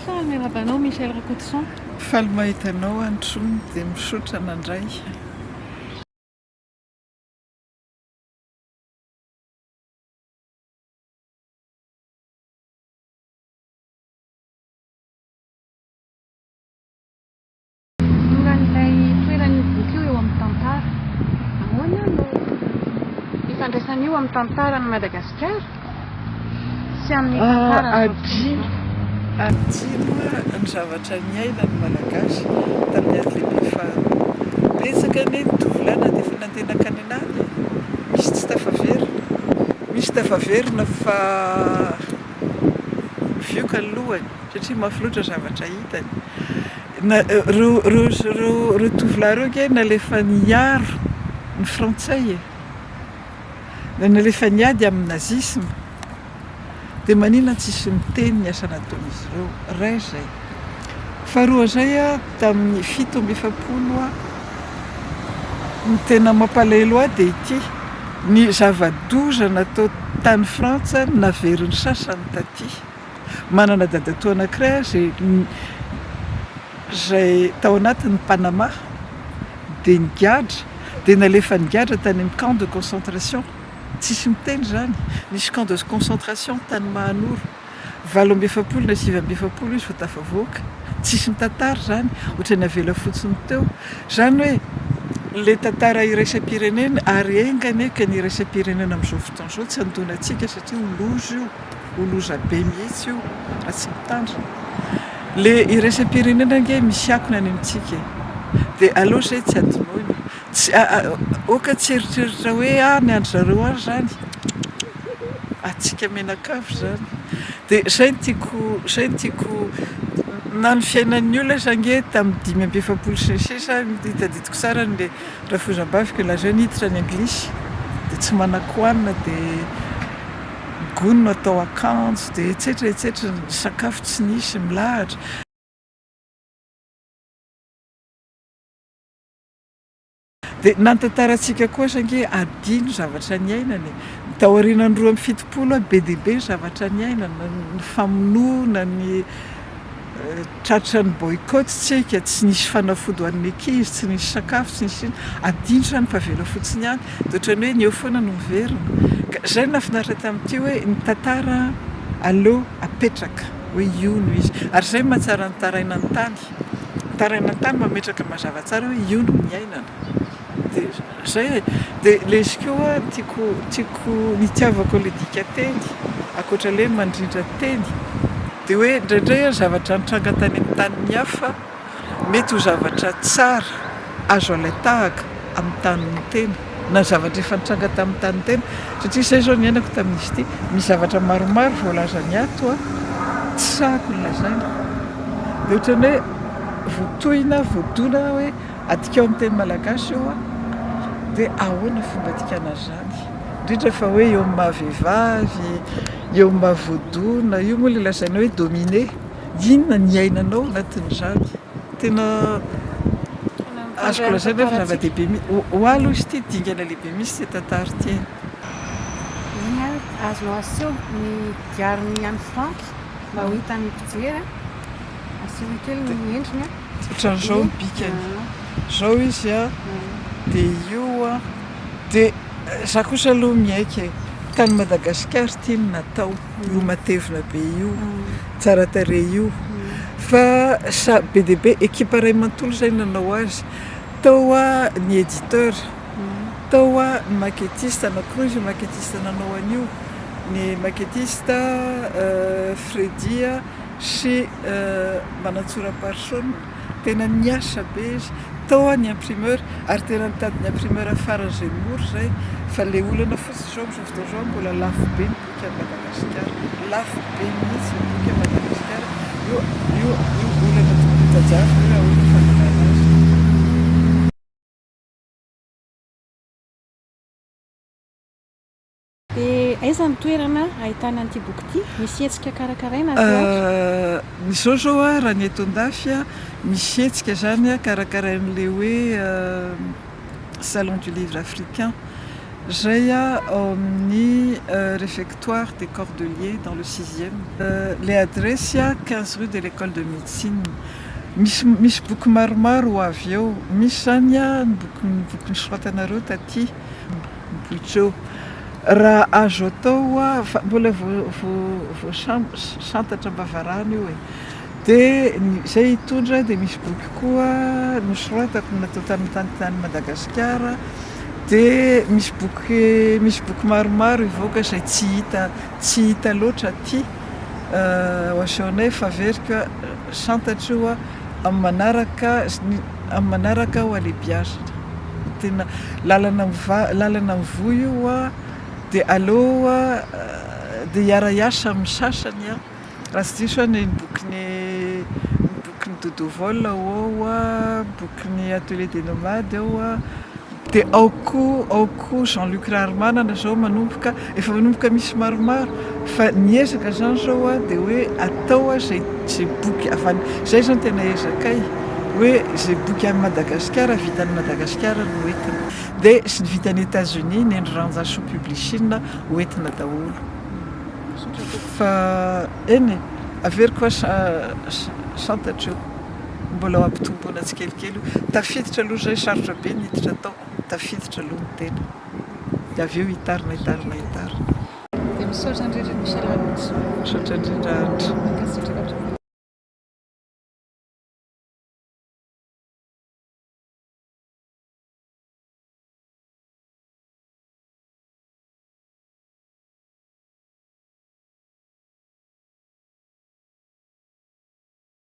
Tsara miarahaba anao Michel Rakotoson. Faly mahita anao Androny dia misaotra nandray. Mora an'ilay toeran'io boky io eo amin'ny tantara. Ahoana no ifandraisan'io amin'ny tantaran'i Madagasikara sy amin'ny tantaran'izao Adino ny zavatra niaina ny Malagasy tamin'ny ady lehibe faharoa. Betsaka anie ny tovolahy na dia efa nandeha nankany an'ala e! Misy tsy tafaverina. Misy tafaverina fa mivioka ny lohany. Satria mafy loatra zavatra hitany. Ireo tovolahy ireo ange nalefa niaro ny frantsay e! Nalefa niady amin'ny nazisma! Dia manina tsisy miteny ny asa nataon'izy ireo? Iray izay. Faharoa izay a, tamin'ny fito amby efapolo a, ny tena mampalahelo ahy dia ity, ny zava-doza natao tany frantsa naverin'ny sasany taty. Manana dadatoa anankiray aho izay izay tao anatin'ny Panama dia nigadra dia nalefa nigadra tany amin'ny camp de concentration, tsisy miteny izany, nisy camp de concentration tany Mahanoro, valo amby efapolo na sivy amby efapolo izy vao tafavoaka, tsisy nitantara izany, ohatran'ny avela fotsiny teo. Izany hoe ilay tantara iraisam-pirenena ary enga anie ka ny iraisam-pirenena amin'izao fotoana izao tsy handoana antsika satria ho loza io. Ho loza be mihitsy io raha tsy mitandrina. Le iraisam-pirenena ange misy akony any amintsika e! Dia aleo izay tsy adinoina. Tsy aoka tsy eritreritra hoe ah ny an-dry zareo any izany. Antsika mianakavy izany. Dia izay no tiako, izay no tiako. Na ny fiainan'ny olona aza ange tamin'ny dimy amby efapolo sy ny sisa, tadidiko tsara ny rafozambaviko nilaza hoe niditra ny anglisy dia tsy manan-kohanina dia. Gony no atao akanjo dia etsetra etsetra ny sakafo tsy nisy milahatra. Dia nantantarantsika koa aza ange adino ny zavatra niainana e! Ny taorianan'ny roa amby fitopolo aho be dia be ny zavatra niainana, ny famonoana, ny Tratra ny boycott tsika, tsy nisy fanafody ho an'ny ankizy, tsy nisy sakafo, tsy nisy inona. Adino izany fa avela fotsiny ihany. Dia ohatran'ny hoe ny eo foana no miverina. Ka izay no nahafinaritra tamin'ity hoe ny tantara aleo apetraka hoe io no izy. Ary izay no mahatsara ny taraina ny tany. Ny taraina ny tany mametraka mazava tsara hoe io no niainana. Dia izay e. Dia lesy koa tiako tiako nitiavako ilay dikanteny, ankoatra ilay hoe mandrindra teny. Dia hoe indraindray ary zavatra nitranga tany amin'ny tanin'ny hafa mety ho zavatra tsara azo alain-tahaka amin'ny tanin'ny tena na zavatra efa nitranga tamin'ny tanin'ny tena satria izay izao niainako tamin'izy ity misy zavatra maromaro voalazany ato a tsy sahako ny lazaina dia ohatran'ny hoe voatohina voadona hoe adikao ny teny malagasy io a dia ahoana fomba adikana an'izany indrindra fa hoe eo amin'ny maha vehivavy Eo mba voadona io moa ilay lazainao hoe dominé, inona ny iainanao anatin'izany? Tena azoko lazaina fa zava-dehibe mi-, ho ahy aloha izy ity dingana lehibe mihitsy ity tantara ity e. Inona ary no azonao aseho ny diarin'i Anne Franck mba ho hitan'ny mpijery an? Asehoy kely ny endriny an! Otran'izao ny bikany. Zao izy a, de io a, de za kosa aloha miaiky e, tany Madagasikara ity no natao, io matevina be io, tsara tarehy io, fa sa- be dia be, ekipa iray manontolo izay nanao azy, tao a ny editeur, tao a ny maquettiste, anakiroa izy io maquettiste nanao an'io, ny maquettiste Freddy a. sy manantsora-parisonina, tena niasa be izy tao an ny imprimeur ary tena nitady ny imprimeur farany izay mora izay fa ilay olana fotsiny izao amin'izao fotoana izao mbola lafo be ny boky any Madagasikara, lafo be mihitsy ny boky any Madagasikara, io io io olana tokony hotajaina hoe ahoana ny fandehanana azy. Dia aiza ny toerana ahitana an'ity boky ity? Misy hetsika karakaraina aty hoatrany? Izao izao raha ny eto an-dafy, misy hetsika izany karakarain'ilay hoe Salon du livre africain izay ao amin'ny Réfectoire des Cordeliers dans le sixième. Ilay adiresy, quinze rue de l'École de Médecine. Misy misy boky maromaro ho avy eo. Misy izany ny boky ny boky nisoratanareo taty. Boitso. Raha azo atao hoa fa mbola voasantatra am-bavarano io e. Dia izay hitondra dia misy boky koa nosoratako natao tany tany Madagasikara dia misy boky misy boky maromaro hivoaka izay tsy hita tsy hita loatra aty. Ho asehonay fa averiko a. Santatry hoa amin'ny manaraka sy ny amin'ny manaraka hoa le biazina. Tena lalana miva- lalana mivoy io hoa, dia aleo hoa dia hiara-hiasa amin'ny sasany an! Raha tsy diso aho ny bokin'i ny bokin'i Dodo Vol ao hoa, bokin'ny Atelier des Nomades ao hoa. Dia ao koa, ao koa Jean Luc Raharimanana izao manomboka, efa manomboka misy maromaro, fa ny ezaka izany izao a, dia hoe atao a izay, izay boky avy any, izay izany tena ezakay, hoe izay boky any Madagasikara, vita any Madagasikara no hoentina. Dia sy ny vita any États-Unis, ny an-dry Ranjasoa Publishing hoentina daholo. Fa eny e, averiko fa santatr'io. Mbola ho ampitomboina tsikelikely io. Tafiditra aloha izay, sarotra be ny hiditra tao. Tafiditra aloha ny tena. Dia avy eo hitarina, hitarina, hitarina. Dia misaotra indrindra ny fialàntsiny. Misaotra indrindra Andry. Mankasitraka hatrany.